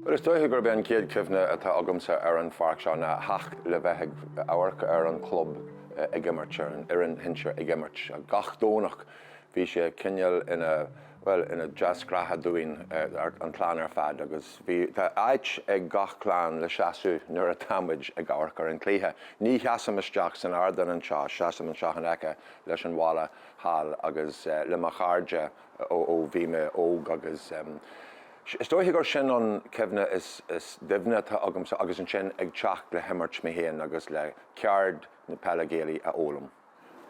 Bhuel, is dóiche gurb é an chéad chuimhne atá agamsa ar an pháirc seo ná a theacht le bheith ag amharc ar an chlub ag imirt, ar an fhoireann shinsir ag imirt gach Domhnach. Bhí sé cineál ina, bhuel, ina deasghnátha dúinn, an clann ar fad agus bhí, tá áit ag gach clann le seasamh nuair atá muid ag amharc ar an chluiche. Ní sheasaim isteach san ardán anseo, seasaim anseo in aice leis an bhalla thall agus le mo chairde ó bhí mé óg agus, Is dóiche gur sin an cuimhne is doimhne atá agamsa agus ansin ag teacht le himirt mé féin agus le ceird na peile Gaelaí a fhoghlaim.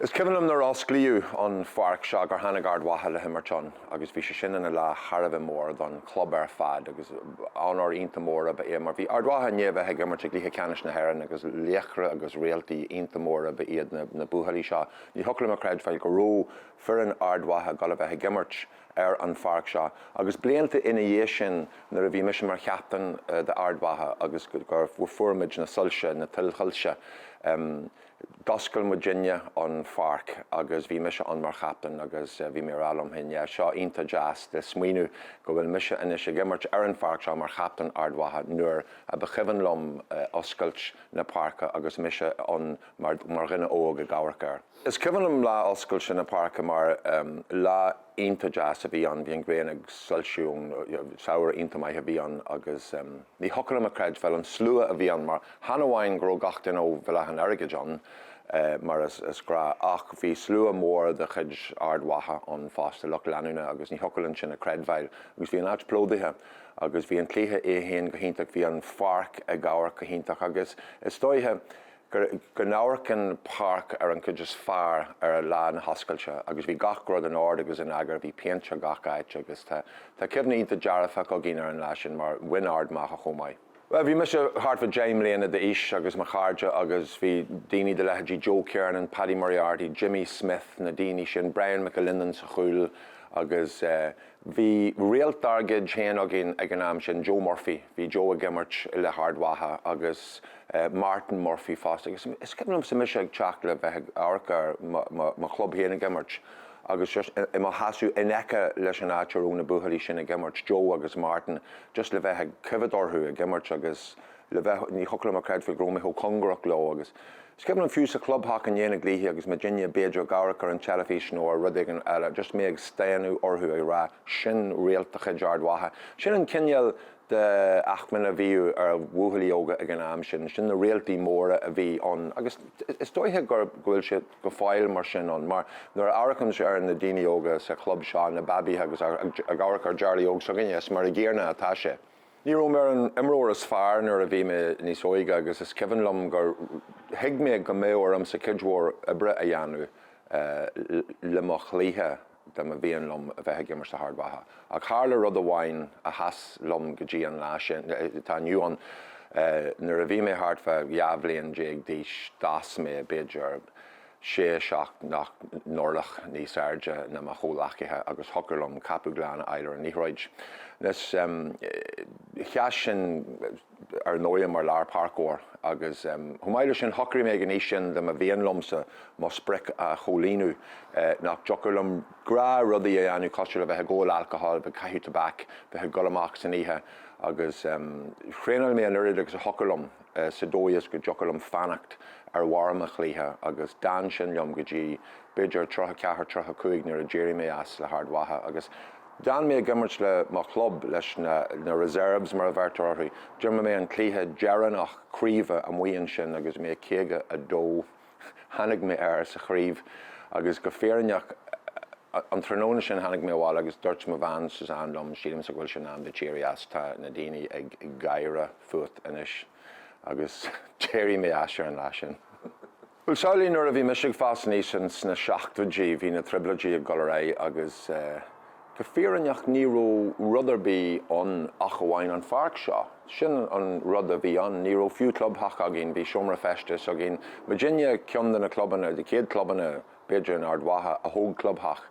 Is cuimhin liom nuair a osclaíodh an pháirc seo gur tháinig Ard Mhacha le himirt ann agus bhí sé sin ina lá thar a bheith mór don chlub ar fad agus onóir iontach mór ab ea é mar bhí Ard Mhacha i ndiaidh a bheith ag imirt i gcluiche ceannais na hÉireann agus laochra agus réaltaí iontach mór ab ea iad na buachaillí seo. Ní thiocfadh liom a chreidbheáil go raibh foireann Ard Mhacha dul a bheith ag imirt ar an pháirc seo agus blianta ina dhiaidh sin nuair a bhí mise mar chaptaen d'Ard Mhacha agus gur fuair muid na soilse, na tuilshoilse, d'oscail muidinne an pháirc agus bhí mise ann mar chaptaen agus bhí mé ag rá liom féin yeah seo iontach deas le smaoineamh go bhfuil mise anois ag imirt ar an pháirc seo mar chaptaen Ard Mhacha nuair a ba chuimhin liom oscailt na páirce agus mise ann mar dhuine óg ag amharc air. Is cuimhin liom lá oscailte na páirce mar lá iontach deas a bhí ann, bhí an ghrian ag soilsiú, samhradh iontach maith a bhí ann agus ní thiocfadh liom a chreidbheáil an slua a bhí ann mar chan amháin go raibh gach duine ó Bhéal Átha an Airgid ann mar is gnách ach bhí slua mór de chuid Ard Mhacha ann fosta, lucht leanúna agus ní thiocfadh linn sin a chreidbheáil agus bhí an áit plódaithe agus bhí an cluiche é fhéin go hiontach, bhí an pháirc ag amharc go hiontach agus is dóiche go n-amharcann páirc ar an gcuid is fearr ar a lá na hoscailte agus bhí gach rud in ord agus in eagar, bhí péint ar gach áit agus tá cuimhní dearfacha againn ar an lá sin mar bhain Ard Mhacha chomh maith. Bhuel, bhí mise thart fá deich mbliana d'aois agus mo chairde agus bhí daoine de leithéidí Joe Kernan, Paddy Moriarty, Jimmy Smyth, na daoine sin, Brian McAlinden sa chúl agus eh, Bhí réalt dár gcuid féin againn ag an am sin, Joe Murphy. Bhí Joe ag imirt le hArd Mhacha agus Martin Murphy fosta agus is cuimhin liomsa mise ag teacht le bheith ag amharc ar mo chlub féin ag imirt agus just i mo sheasamh in aice leis an áit a raibh na buachaillí sin ag imirt, Joe agus Martin, just le bheith ag coimhéad orthu ag imirt agus. le bheith, ní thiocfadh liom a chreidbheáil go raibh mé chomh cóngarach leo agus is cuimhin liom fiú sa chlubtheach i ndiaidh na gcluichí agus muidinne b'fhéidir ag amharc ar an teilifís nó ar rud éigin eile, just mé ag stánadh orthu ag rá 'sin réalt de chuid Ard Mhacha'. Sin an cineál de acmhainn a bhíodh ar bhuachaillí óga ag an am sin, sin na réaltaí móra a bhí ann agus is dóiche go bhfuil sé go fóill mar sin ann mar nuair a amharcaimse ar na daoine óga sa chlub seo, na babaithe agus ag amharc ar Jarly Óg s'againne, is mar an gcéanna atá sé. Ní raibh mé ar an imreoir is fearr nuair a bhí mé níos óige agus is cuimhin liom gur thuig mé go mbeadh ormsa cuid mhór oibre a dhéanamh le mo chluiche dá mba mhian liom a bheith ag imirt le hArd Mhacha. Ach tharla rud amháin a sheas liom go dtí an lá seo atá inniu ann. Nuair a bhí mé thart fá dhá bhliain déag d'aois, d'fhás mé, b'fhéidir, sé nó seacht n-orlach níos airde ná mo chomhleacaithe agus thiocfadh liom ceapadh glan a fháil ar an liathróid. Anois sheas sin ar ndóighe mar lárpháirceoir agus chomh maith le sin shocraigh mé ag an aois sin dá mba mhian liomsa mo sprioc a chomhlíonadh nach dtiocfadh liom go leor rudaí a dhéanamh cosúil le bheith ag ól alcohol, bheith ag caitheamh tobac, bheith ag dul amach san oíche agus thraenáil mé an oiread agus a thiocfadh liom. sa dóigh is go dtiocfadh liom fanacht ar bharr mo chluiche agus d'fhan sin liom go dtí b'fhéidir tríocha a ceathair, tríocha a cúig nuair a d'éirigh mé as le hArd Mhacha agus d'fhan mé ag imirt le mo chlub, leis na na reserves mar a bheirtear orthu. D'imir mé an cluiche deireanach craoibhe amuigh ansin agus bhí mé 52. Tháinig mé air sa chraobh agus go fírinneach an tráthnóna sin tháinig mé abhaile agus dúirt mo bhean Suzanne liom, sílimse go bhfuil sé in am duit éirí as, tá na daoine ag gáire fút anois. Agus d'éirigh mé as ar an lá sin. Bhuel, samhlaigh nuair a bhí mise ag fás aníos sna seachtóidí, bhí na Trioblóidí ag dul ar aghaidh agus eh, Go fírinneach ní raibh rud ar bith ann ach amháin an pháirc seo. Sin an rud a bhí ann. Ní raibh fiú clubtheach againn, bhí seomra feistis againn. Muidinne ceann de na clubanna, de na chéad chlubanna b'fhéidir in Ard Mhacha a thóg clubtheach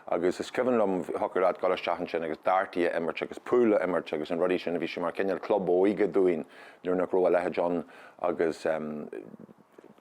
agus is cuimhin liom thiocfadh leat dul isteach ansin agus dártaí a imirt agus pool a imirt agus na rudaí sin. Bhí sé mar chineál club óige dúinn nuair nach raibh a leithéid ann agus eh,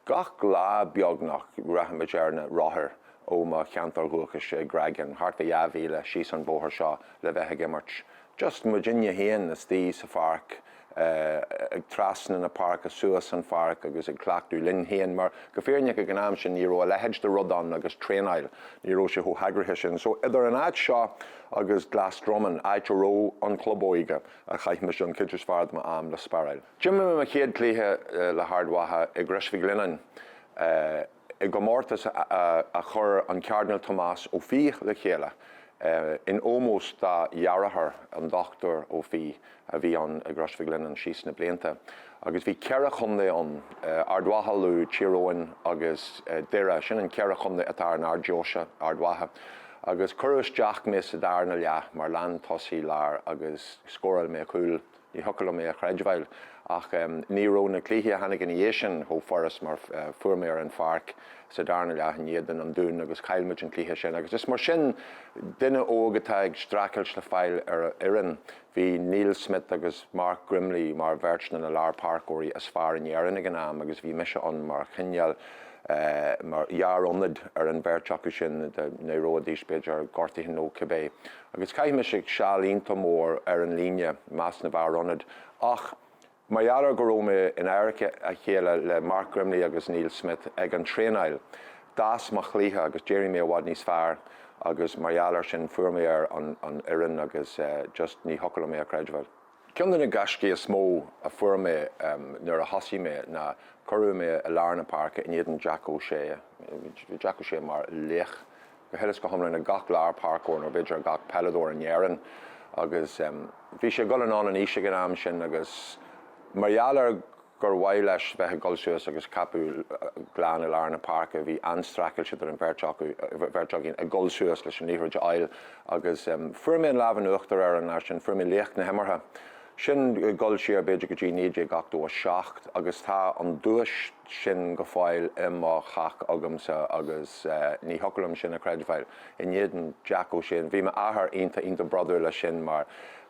Gach lá, beagnach, rachaimis ar na rothair ó mo cheantar dúchais i gCreagán, thart ar dhá mhíle síos an bóthar seo, le bheith ag imirt. Just muidinne féin, istigh sa pháirc, ag trasna na páirce, suas an pháirc agus ag cleachtadh linn féin, mar go fírinneach ag an am sin ní raibh a leithéid de rud ann agus traenáil, ní raibh sé chomh heagraithe sin. So, idir an áit seo agus Glasdroman, áit a raibh an club óige, a chaith mise an chuid is fearr de m'am le spáráil. D'imir mé mo chéad chluiche le hArd Mhacha i gCrois Mhig Lionnáin i gcomórtas a chuir an Cairdinéal Tomás Ó Fiaich le chéile in ómós dá dheartháir, an Dr Ó Fiaich, a bhí ann i gCrois Mhic Lionnáin síos na blianta. Agus bhí ceithre chontae ann, Ard Mhacha, Lú, Tír Eoghain agus Doire. Sin an ceithre chontae atá ar an Ard-deoise, Ard Mhacha. Agus cuireadh isteach mé sa darna leath mar leathtosaí láir agus scóráil mé cúl. Ní thiocfadh liom é a chreidbheáil. Ach ní raibh na cluichí a tháinig ina dhiaidh sin chomh furast mar fuair mé ar an pháirc sa darna leath in éadan an Dún agus chaill muid an cluiche sin agus is mar sin duine óg atá ag streachailt le fáil ar fhoireann. Bhí Neil Smyth agus Mark Grimley mar bheirt de na lárpháirceoirí is fearr in Éirinn ag an am agus bhí mise ann mar chineál fear ionaid ar an bheirt acu sin, d'éireoidís b'fhéidir gortaithe nó cibé. Agus chaith mise seal iontach mór ar an líne, i measc na bhfear ionaid. Ach mar gheall ar go raibh mé in adharca a chéile le Mark Grimley agus Neil Smyth ag an traenáil, d'fhás mo chluiche agus d'éirigh mé i bhfad níos fearr agus mar gheall ar sin fuair mé ar an fhoireann agus just ní thiocfadh liom é a chreidbheáil. Ceann de na gaiscí is mó a fuair mé nuair a thosaigh mé ná cuireadh mé i lár na páirce in éadan Jack O'Shea. Bhí Jack O'Shea mar laoch go huile is go hiomlán ag gach lárpháirceoir nó b'fhéidir ag gach peileadóir in Éirinn agus bhí sé ag dul anonn in aois ag an am sin agus mar gheall ar gur mhaith leis bheith ag dul suas agus ceapadh glan a fháil i lár na páirce. Bhí an-streachailt idir an bheirt acu, bheirt againn ag dul suas leis an liathróid a fháil agus fuair mé an lámh in uachtar air an lá sin, fuair mé laoch na himeartha. Sin dul siar b'fhéidir go dtí 1987 agus tá an duais sin go fóill i mo theach agamsa agus ní thiocfadh liom sin a chreidbheáil. In éadan Jack O'Shea, bhí m'athair iontach, iontach bródúil as sin mar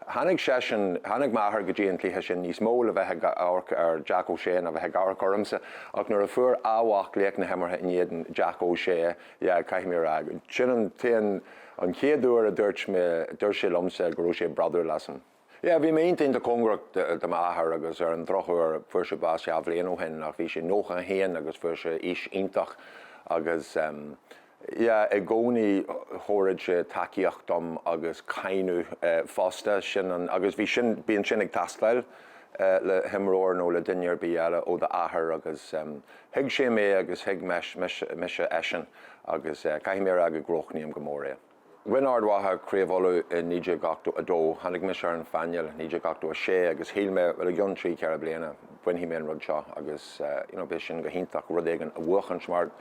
Tháinig seisean, tháinig m'athair go dtí an cluiche sin níos mó le bheith ag amharc ar Jack O'Shea ná bheith ag amharc ormsa ach nuair a fuair a mhac laoch na himeartha in éadan Jack O'Shea, yeah, caithfidh mé a rá, sin an t-aon, an chéad uair a dúirt mé, dúirt sé liomsa go raibh sé bródúil asam. Yeah, bhí mé iontach iontach cóngarach do m'athair agus ar an drochuair fuair sé bás dhá bhliain ó shin ach bhí sé 91 agus fuair sé aois iontach agus. Yeah, i gcónaí thabharfadh sé tacaíocht dom agus cáineadh fosta, sin an, agus bhí sin, bíonn sin ag teastáil le himreoir nó le duine ar bith eile ó d'athair agus thuig sé mé agus thuig mise eisean agus caithfidh mé a rá go gcronaím go mór é. Bhain Ard Mhacha Craobh Uladh i 1982. Tháinig mise ar an phainéal 1986 agus shíl mé bhuel i gcionn trí ceithre bliana bainfidh mé an rud seo agus you know beidh sin go hiontach rud éigin a bhuachtáil mar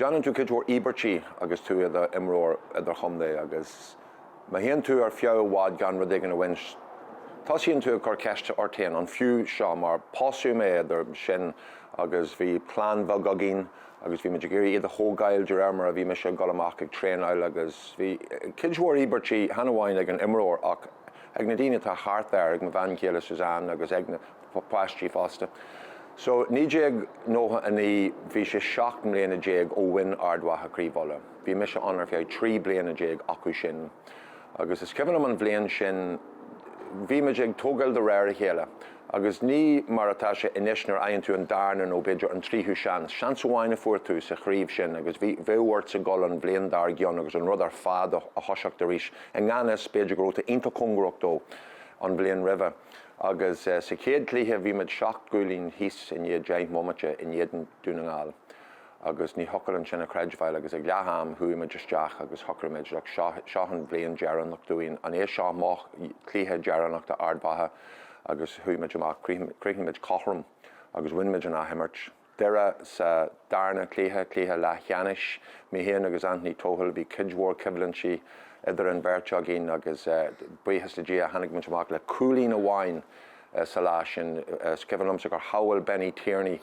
déanann tú cuid mhór íobairtí agus tú i do imreoir idir-chontae agus má théann tú ar feadh i bhfad gan rud éigin a bhaint tosaíonn tú ag cur ceiste ort féin an fiú seo mar pósadh mé idir sin agus bhí clann bheag againn agus bhí mé ag iarraidh iad a thógáil de réir mar a bhí mise ag dul amach ag traenáil agus bhí cuid mhór íobairtí, chan amháin ag an imreoir ach ag na daoine atá thart air, ag mo bhean chéile Suzanne agus ag na páistí fosta. So, 1999, bhí sé seacht mbliana déag ó bhain Ard Mhacha Craobh Uladh. Bhí mise ann ar feadh trí bliana déag acu sin agus is cuimhin liom an bhliain sin, bhí muid ag tógáil de réir a chéile. agus ní mar atá sé anois nuair a fhaigheann tú an darna nó b'fhéidir an tríú seans. Seans amháin a fuair tú sa chraobh sin agus bheadh ortsa dul an bhliain dár gcionn agus an rud ar fad a thoiseacht arís. I ngan fhios, b'fhéidir go rabh tú iontach cóngarach dó an bhliain roimhe agus sa chéad chluiche bhí muid seacht gcúilín thíos i ndiaidh deich mbomaite in éadan Dún na nGall. agus ní thiocfadh linn sin a chreidbheáil agus ag leath am chuaigh muid isteach agus shocraigh muid, look, seo, seo an bhliain dheireanach dúinn, an é seo mo chluiche dheireanach d'Ard Mhacha agus chuaigh muid amach, chríochnaigh muid cothrom agus bhain muid an athimirt. Doire sa darna cluiche, cluiche leathcheannais, mé féin agus Anthony Tohill, bhí cuid mhór coimhlintí idir an bheirt againn agus buíochas le Dia tháinig muid amach le cúilín amháin, sa lá sin. Is cuimhin liomsa gur shábháil Benny Tierney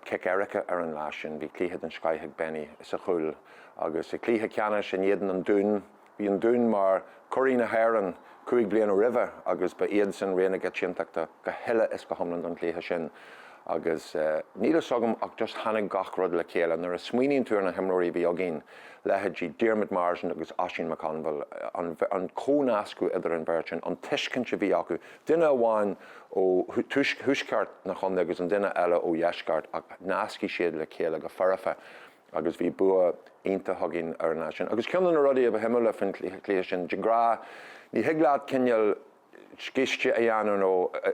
cic éirice ar an lá sin. Bhí cluiche den scoith ag Benny sa chúl agus sa chluiche ceannais in éadan an Dún, bhí an Dún mar churaí na hÉireann cúig bliana roimhe agus ba iadsan rogha na coitiantachta go huile is go hiomlán don chluiche sin agus níl fhios agam ach just tháinig gach rud le chéile. Nuair a smaoiníonn tú ar na himreoirí a bhí againn, leithéidí Diarmuid Marsden agus Oisín McConville, an comhnascadh idir an bheirt sin, an tuiscint a bhí acu, duine amháin ó thuaisceart na chontae agus an duine eile ó dheisceart ach nasc siad le chéile go foirfe agus bhí bua iontach againn ar an lá sin. Agus ceann de na rudaí a ba shuimiúla faoin chluiche sin, de ghnáth, ní thig leat cineál scíste a dhéanamh nó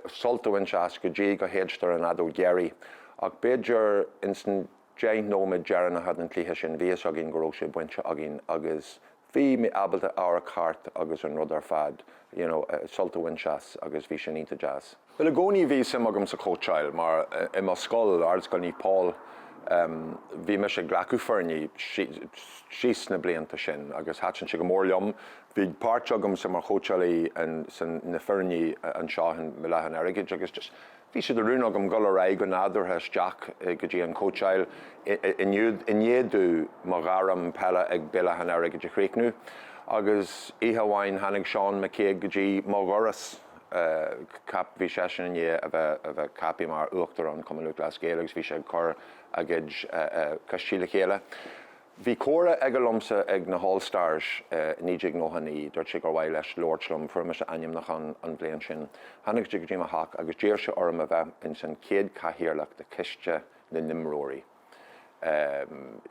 sult a bhaint as go dtí go séidtear an fheadóg dheiridh ach b'fhéidir ins an 10 nóiméad deireanacha den chluiche sin, bhí a fhios againn go raibh sé bainte againn agus bhí mé ábalta amharc thart agus an rud ar fad, you know, sult a bhaint as agus bhí sin iontach deas. Bhuel i gcónaí bhí suim agam sa chóitseáil mar i mo scoil, Ardscoil Naomh Pól, em, bhí mise ag glacadh foirne fríd na blianta sin agus thaitin sé go mór liom. Bhí páirt agamsa mar chóitseálaí in, san, na foirne anseo in Béal Átha an Airgid agus just, Bhí sé de rún agam dul ar aghaidh go nádúrtha isteach go dtí an chóitseáil i ndiaidh domh mo ghairm peile ag Béal Átha an Airgid a chríochnú agus oíche amháin tháinig Seán McCague go dtí mo dhoras, bhí seisean i ndiaidh a bheith ceaptha mar Uachtarán Chumann Lúthchleas Gael agus bhí sé ag cur a chuid coistí le chéile. Bhí comhrá aige liomsa ag na hAll Stars i 1999. Dúirt sé gur mhaith leis labhairt liom. Fuair mise ainmniúchán an bhliain sin. Tháinig sé go dtí mo theach agus d'iarr sé orm a bheith ins an chéad chathaoirleach de choiste na n-imreoirí.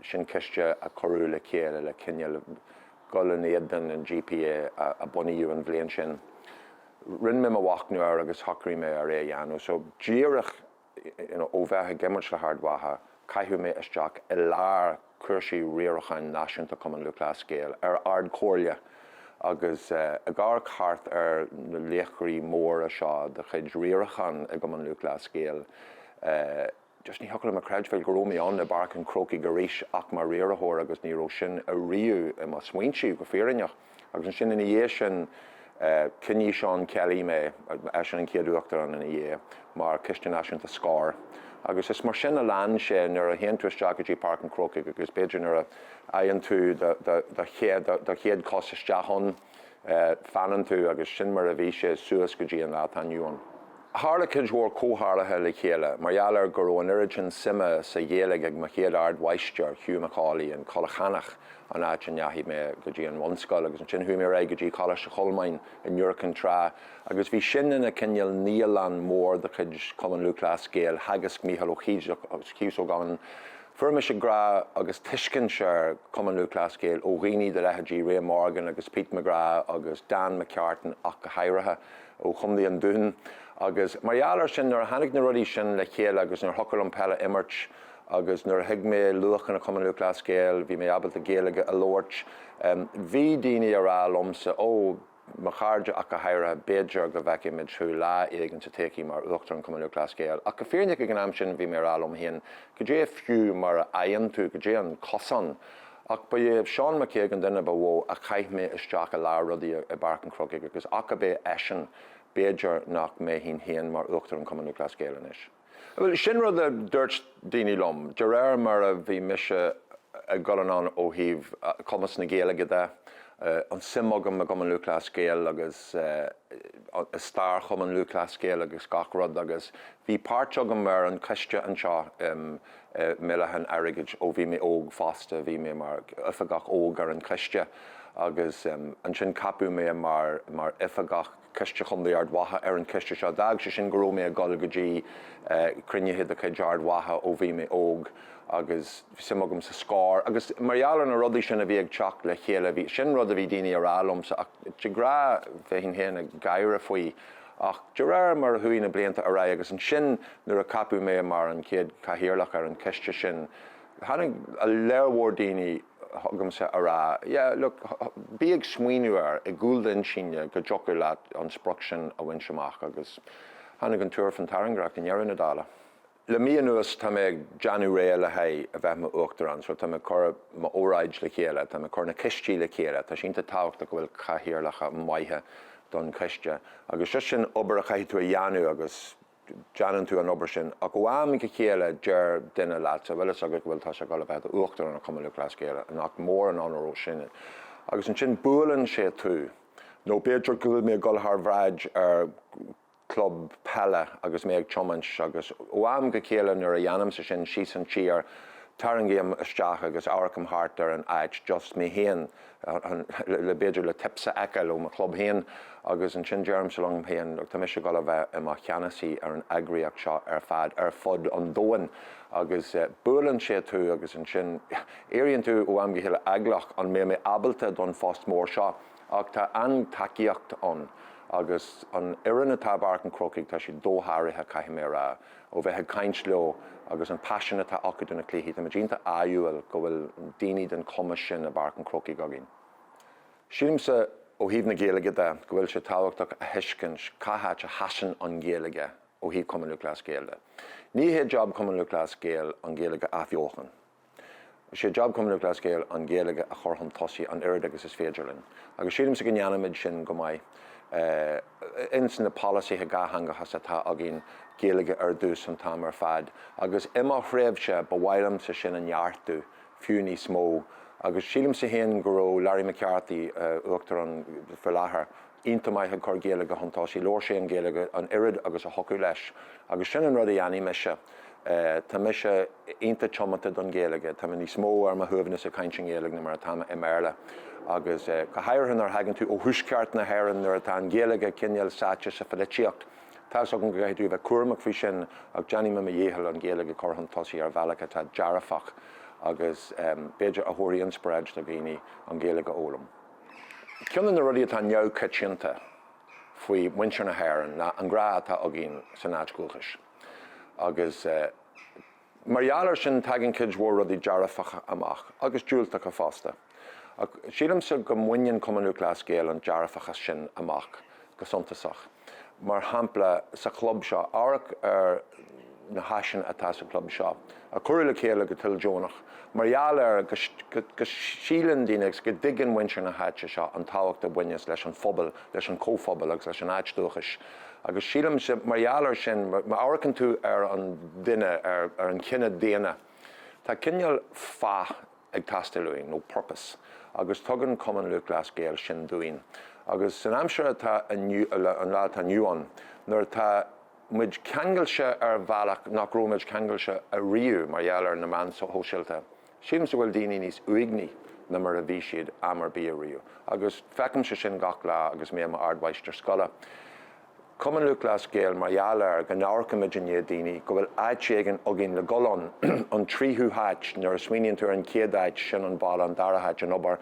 Sin coiste a cuireadh le chéile le cineál dul in éadan an GPA a bunaíodh an bhliain sin. Rinne mé mo mhachnamh air agus shocraigh mé ar é a dhéanamh. So díreach Ó bheith ag imirt le hArd Mhacha, caitheadh mé isteach i lár cúrsaí riaracháin náisiúnta Chumann Lúthchleas Gael ar Ard-Chomhairle agus ag amharc thart ar na laochraí móra seo de chuid riaracháin i gCumann Lúthchleas Gael, just ní thiocfadh liom a chreidbheáil go raibh mé ann i bPáirc an Chrócaigh arís ach mar riarthóir agus ní raibh sin ariamh i mo smaointe go fírinneach. Agus ansin ina dhiaidh sin, choinnigh Seán Kelly mé, eisean an chéad Uachtarán ina dhiaidh, mar Choiste Náisiúnta Scór. Agus is mar sin a lean sé nuair a théann tú isteach go dtí Páirc an Chrócaigh agus b'fhéidir nuair a fhaigheann tú do chéad chos isteach ann, fanann tú agus sin mar a bhí sé suas go dtí an lá atá inniu ann. Tharla cuid mhór comhtharluithe le chéile mar gheall ar go raibh an oiread sin suime sa Ghaeilge ag mo chéad ardmháistir, Hugh Macauley, in Coilleach Eanach, an áit a ndeachaigh mé go dtí an bhunscoil, agus ansin chuaigh mé ar aghaidh go dtí Coláiste Cholmáin in Iúr Cinn Trá, agus bhí sin ina cineál naíolann mór de chuid Chumann Lúthchleas Gael. Theagasc Mícheál Ó Cíosóg ann. Fuair mise grá agus tuiscint ar Chumann Lúthchleas Gael ó dhaoine de leithéidí Ray Morgan agus Pete McGrath agus Dan McCartan ach go háirithe. ó Chontae an Dúin agus mar gheall ar sin nuair a tháinig na rudaí sin le chéile agus nuair a thiocfadh liom peil a imirt agus nuair a thuig mé luachanna Chumann Lúthchleas Gael bhí mé ábalta Gaeilge a labhairt bhí daoine a rá liomsa ó mo chairde ach go háirithe b'fhéidir go bhfeicfimid thú lá éigin sa todhchaí mar Uachtarán Chumann Lúthchleas Gael ach go fírinneach ag an am sin bhí mé a rá liom féin Cad é fiú mar a fhaigheann tú, cad é an cosán? Ach ba é Seán McCague an duine ba mhó a chaith mé isteach i lár rudaí i bPáirc an Chrócaigh agus ach ab é eisean b'fhéidir nach mbeinn féin mar Uachtarán Chumann Lúthchleas Gael anois. Bhuel, sin rud a dúirt daoine liom, de réir mar a bhí mise ag dul anonn ó thaobh chumas na Gaeilge de, an tsuim agam i gCumann Lúthchleas Gael agus i stair Chumann Lúthchleas Gael agus gach rud agus Bhí páirt agam ar an choiste anseo i mBéal Átha an Airgid ó bhí mé óg fosta, bhí mé mar oifigeach óg ar an choiste agus ansin ceapadh mé mar oifigeach Coiste Chontae Ard Mhacha ar an choiste seo. D'fhág sé sin go raibh mé ag dul go dtí cruinnithe de chuid Ard Mhacha ó bhí mé óg agus bhí suim agam sa Scór agus mar gheall ar na rudaí sin a bhí ag teacht le chéile, sin rud a bhí daoine a rá liomsa ach de ghnáth, bheinn féin ag gáire faoi. Ach de réir mar a chuaigh na blianta ar aghaidh, agus ansin nuair a ceapadh mé mar an chéad chathaoirleach ar an choiste sin, tháinig a lán mór daoine chugamsa a rá, yeah, look, bí ag smaoineamh air i gcúl do intinne go dtiocfadh leat an sprioc sin a bhaint amach agus tháinig an tuar faoin tairngreacht i ndeireadh na dála. Le mí anuas tá mé ag deanamh réidh le haghaidh a bheith mo Uachtarán so tá mé ag cur mo óráid le chéile, tá mé ag cur na coistí le chéile, tá sé iontach tábhachtach go bhfuil cathaoirleacha maithe do na coistí agus just sin obair a chaithfidh tú a dheanamh agus deanann tú an obair sin ach ó am go chéile deir duine leatsa bhfuil fhios agat go bhfuil tusa ag dul a bheith do Uachtarán an Chumann Lúthchleas Gael nach mór an onóir í sin agus ansin buaileann sé tú nó b'fhéidir go bhfuil mé ag dul thar bhráid ar club peile agus mé ag tiomáint agus ó am go chéile nuair a dhéanaimse sin síos an tír tarraingím isteach agus amharcaim thart ar an áit just mé féin le b'fhéidir le tips a fheiceáil do mo chlub féin agus ansin deirimse liom féin tá mise ag dul a bheith i mo cheannasaí ar an eagraíocht seo ar fad ar fud an domhain agus buaileann sé tú agus ansin éiríonn tú ó am go chéile eaglach an mbeidh mé ábalta don phost mór seo? Ach tá an-tacaíocht ann agus an fhoireann atá i bPáirc an Chrócaigh, tá siad dósháraithe, caithfidh mé a rá, ó bheith ag caint leo agus an paisean atá acu do na cluichí. Táimid iontach ádhúil go bhfuil daoine den chumas sin i bPáirc an Chrócaigh againn. Sílimse, ó thaobh na Gaeilge de, go bhfuil sé tábhachtach a thuiscint cá háit a sheasann an Ghaeilge ó thaobh Chumann Lúthchleas Gael de. Ní hé job Chumann Lúthchleas Gael an Ghaeilge a athbheochan. Is é job Chumann Lúthchleas Gael an Ghaeilge a chur chun tosaigh an oiread agus is féidir linn agus sílimse go ndéanaimid sin go maith. Ins na polasaithe dhátheangachais atá againn Gaeilge ar dtús an t-am ar fad agus i mo thréimhse ba mhaith liomsa sin a neartú fiú níos mó agus sílimse féin go raibh Larry McCarthy, Uachtarán faoi láthair, ionta maith ag cur Gaeilge chun tosaigh. Labhair sé an Ghaeilge, an oiread agus a thiocfadh leis. Agus sin an rud a dheanfaidh mise. Tá mise ionta tiomanta don Ghaeilge. Tá mé níos mó ar mo shuaimhneas ag caint i nGaeilge na mar atá mé i mBéarla. Agus go háirithe nuair a thagann tú ó thuaisceart na hÉireann, nuair atá an Ghaeilge cinéal sáite sa pholaitíocht, tá's agam go gcaithfidh tú a bheith cúramach faoi sin ach déanfaidh mé mo dhícheall an Ghaeilge a chur chun tosaigh ar bhealach atá dearfach agus b'fhéidir a thabharfaidh inspioráid do dhaoine an Ghaeilge a fhoghlaim. Ceann de na rudaí atá neamhchoitianta faoi mhuintir na hÉireann ná an grá atá againn san áit dhúchais agus mar gheall air sin tagann cuid mhór rudaí dearfacha amach, agus diúltacha fosta. Ach sílimse go mbaineann Cumann Lúthchleas Gael an dearfachas sin amach go suntasach. Mar shampla, sa chlub seo, amharc ar na háiseanna atá sa chlub seo, a cuireadh le chéile go toildeonach mar gheall ar go síleann daoine agus go dtuigeann muintir na háite seo an tábhacht a bhaineann leis an phobal, leis an chomhphobal agus leis an áit dúchais. Agus sílimse, mar gheall air sin, má amharcann tú ar an duine, ar an chine daonna, tá cineál fáth, ag teastáil uainn, nó purpose, agus tugann Cumann Lúthchleas Gael sin dúinn. Agus san aimsir atá inniu, an lá atá inniu ann, nuair atá muid ceangailte ar bhealach nach raibh muid ceangailte ariamh mar gheall ar na meáin shóisialta, sílimse go bhfuil daoine níos uaigní ná mar a bhí siad am ar bith ariamh. Agus feicimse sin gach lá agus mé i m'ardmháistir scoile. Cumann Lúthchleas Gael mar gheall air go n-amharcaimid i ndiaidh daoine, go bhfuil áit éigin againn le dul ann, an tríú háit, nuair a smaoiníonn tú ar an chéad áit, sin an baile, an dara háit, an obair,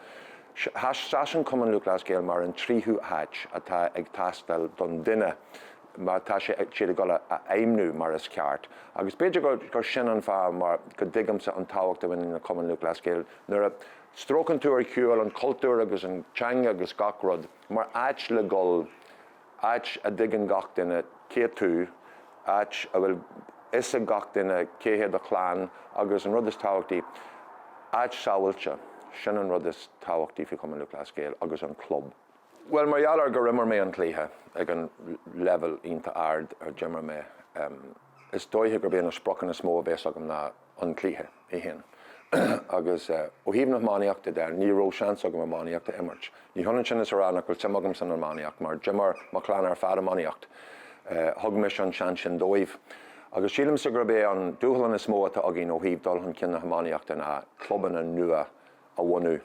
seasann Cumann Lúthchleas Gael mar an tríú háit atá ag teastáil don duine má tá sé, siad ag dul a fheidhmniú mar is ceart agus b'fhéidir gur, gur sin an fáth mar go dtuigimse an tábhacht a bhaineann le Cumann Lúthchleas Gael nuair a stróiceann tú ar shiúl an cultúr agus an teanga agus gach rud. Mar áit le dhul, áit a dtuigeann gach duine cé tú, áit a bhfuil fhios ag gach duine cé hé do chlann agus an rud is tábhachtaí, áit sábháilte, sin an rud is tábhachtaí faoi Chumann Lúthchleas Gael agus an club. Bhuel, mar gheall ar gur imir mé an cluiche ag an leibhéal iontach ard ar imir mé, is dóigh gurb é na spriocanna is mó a bhéas agam ná an cluiche. é féin. Agus ó thaobh na hiománaíochta de, ní raibh seans agam iománaíocht a imirt. Ní hionann sin is a rá nach bhfuil suim agam san iománaíocht, mar d'imir mo chlann ar fad iománaíocht. Thug mise an seans sin dóibh. Agus sílimse gurb é an dúshlán is mó atá againn ó thaobh dul chun cinn na hiománaíochta ná clubanna nua a bhunú.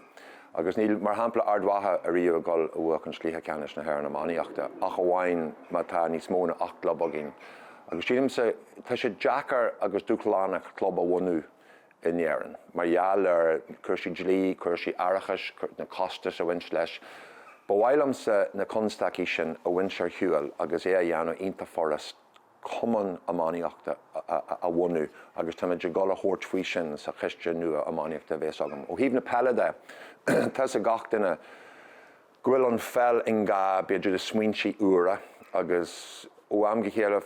Agus níl, mar shampla, Ard Mhacha ariamh ag dul a bhuachan Cluiche Ceannais na hÉireann Iománaíochta ach amháin má tá níos mó ná ocht gclub againn. Agus sílimse, tá sé deacair agus dúshlánach club a bhunú in Éirinn mar gheall ar chúrsaí dlí, cúrsaí aireachais, na costais a bhaineann leis. Ba mhaith liomsa na constaicí sin a bhaint ar shiúl agus é a dhéanamh iontach furasta. cumann iománaíochta a bhunú agus táimid ag dul a thabhairt faoi sin sa choiste nua iománaíochta a bhéas agam. Ó thaobh na peile de, tá fhios ag gach duine go bhfuil an pheil i ngá b'fhéidir le smaointí úra agus ó am go chéile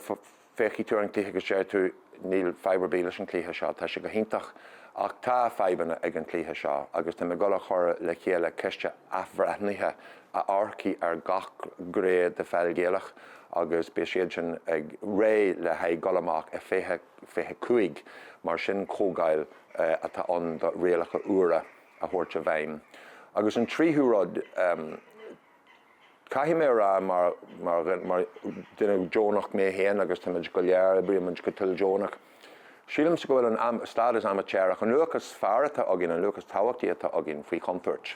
féachfaidh tú ar an cluiche agus deir tú níl fadhb ar bith leis an chluiche seo, tá sé go hiontach ach tá fadhbanna ag an cluiche seo agus táim ag dul a chur le chéile coiste athbhreithnithe amharcfaidh ar gach gné de Pheil Ghaelach agus beidh siadsan réidh le haghaidh dul amach i 2025. Mar sin comhdháil atá ann do rialacha úra a thabhairt i bhfeidhm. Agus an tríú rud, caithfidh mé a rá mar dhuine deonach mé féin agus táimid go léir, oibrímid go toildeonach, Sílimse go bhfuil an stádas amaitéarach, an luach is fearr atá againn, an luach is tábhachtaí atá againn, faoi chontúirt.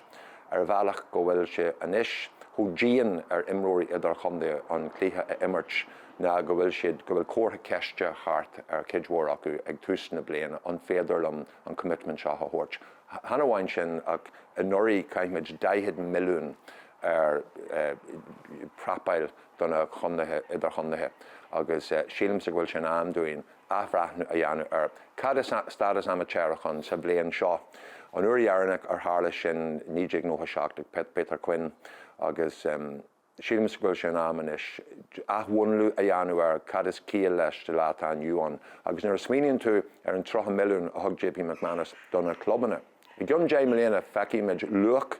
Ar bhealach go bhfuil sé anois chomh dian ar imreoirí idirchontae an cluiche a imirt ná go bhfuil siad, go bhfuil comhartha ceiste thart ar chuid mhór acu ag tús na bliana, an féidir liom an commitment seo a thabhairt? Chan amháin sin ach anuraidh chaith muid 40 milliún ar prapáil do na contaetha idirchontae agus sílimse go bhfuil sé in am dúinn athbhreithniú a dhéanamh ar cad is stádas amaitéarach ann sa bhliain seo. An uair dheireanach ar tharla sin 1997 ag Peter Quinn agus sílimse go bhfuil sé in am anois athbhreithniú a dhéanamh ar cad is ciall leis sa lá atá inniu ann agus nuair a smaoiníonn tú ar an 30 milliún a thug JP McManus do na clubanna I gcionn deich mbliana feicfimid luach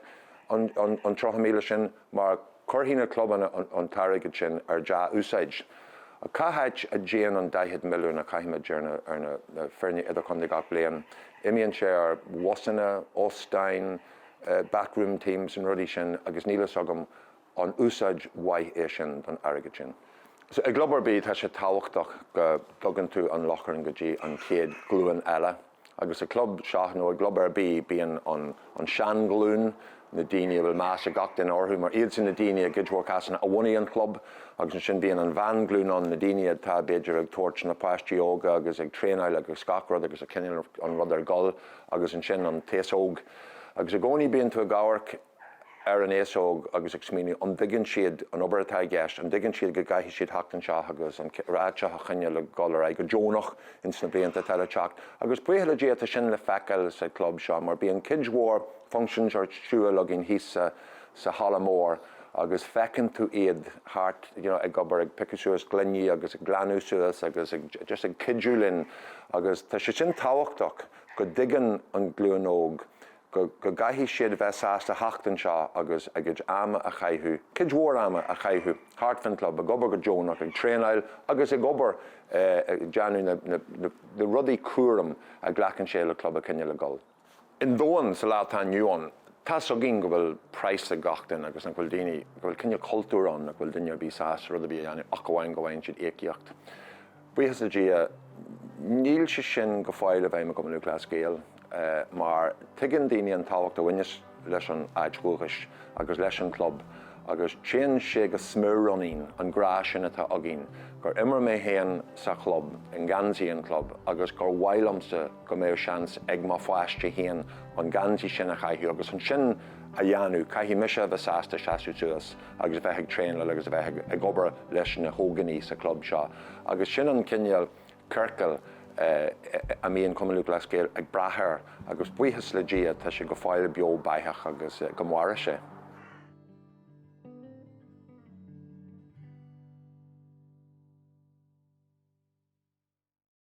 an 30,000 sin mar cuirfidh na clubanna an t-airgead sin ar dhea-úsáid. Ach cá háit a dtéann an 40 milliún a chaithimid ar na foirne idirchontae gach bliain? Imíonn sé ar bhusanna, óstáin, backroom teams, na rudaí sin agus níl fhios agam An úsáid mhaith é sin don airgead sin? I gclub ar bith tá sé tábhachtach go dtugann tú an lóchrann go dtí an chéad ghlúin eile agus i gclub seo nó i gclub ar bith bíonn an tseanghlúin, na daoine a bhfuil meas ag gach duine orthu mar iadsan na daoine i gcuid mhór cásanna a bhunaigh an club agus ansin bíonn an mheánghlúin ann, na daoine atá b'fhéidir ag tabhairt na páistí óga agus ag traenáil agus gach rud agus ag coinneáil an rud ag dul agus ansin an t-aos óg agus i gcónaí bíonn tú ag amharc ar an aos óg agus ag smaoineamh an dtuigeann siad an obair atá i gceist, an dtuigeann siad go gcaithfidh siad theacht anseo agus an áit seo a choinneáil ag dul ar aghaidh go deonach ins na blianta atá le teacht. Agus buíoch le Dia tá sin le feiceáil sa chlub seo mar bíonn cuid mhór functions ar siúl againn thíos sa halla mór agus feiceann tú iad thart you know ag obair, ag piocadh suas gloiní agus ag glanadh suas agus ag just ag cuidiú linn agus tá sé sin tábhachtach go dtuigeann an ghlúin óg go gcaithfidh siad bheith sásta theacht anseo agus a gcuid ama a chaitheamh, cuid mhór ama a chaitheamh thart faoin chlub, ag obair go deonach, ag traenáil agus ag obair, ag déanamh na rudaí cúraim a ghlacann sé le club a choinneáil ag dul. I ndomhan sa lá atá inniu ann, tá's againn go bhfuil praghas ag gach duine agus nach bhfuil daoine, go bhfuil cineál cultúir ann nach bhfuil duine ar bith sásta rud ar bith a dhéanamh ach amháin go bhfaigheann siad íocaíocht. Buíochas le Dia, níl sé sin go fóill i bhfeidhm i gCumann Lúthchleas Gael mar tuigeann daoine an tábhacht a bhaineas leis an áit dhúchais agus leis an gclub agus téann sé go smior ionainn, an grá sin atá againn, gur imir mé féin sa chlub, i ngeansaí an chlub agus gur mhaith liomsa go mbeadh seans ag mo pháiste féin an geansaí sin a chaitheamh agus chun sin a dhéanamh, caithfidh mise a bheith sásta seasamh suas. agus a bheith ag traenáil agus a bheith ag obair leis na hóganaí sa chlub seo agus sin an cineál ciorcail a mbíonn Cumann Lúthchleas Gael ag brath air agus buíochas le Dia tá sé go fóill beo beathach agus go maire sé.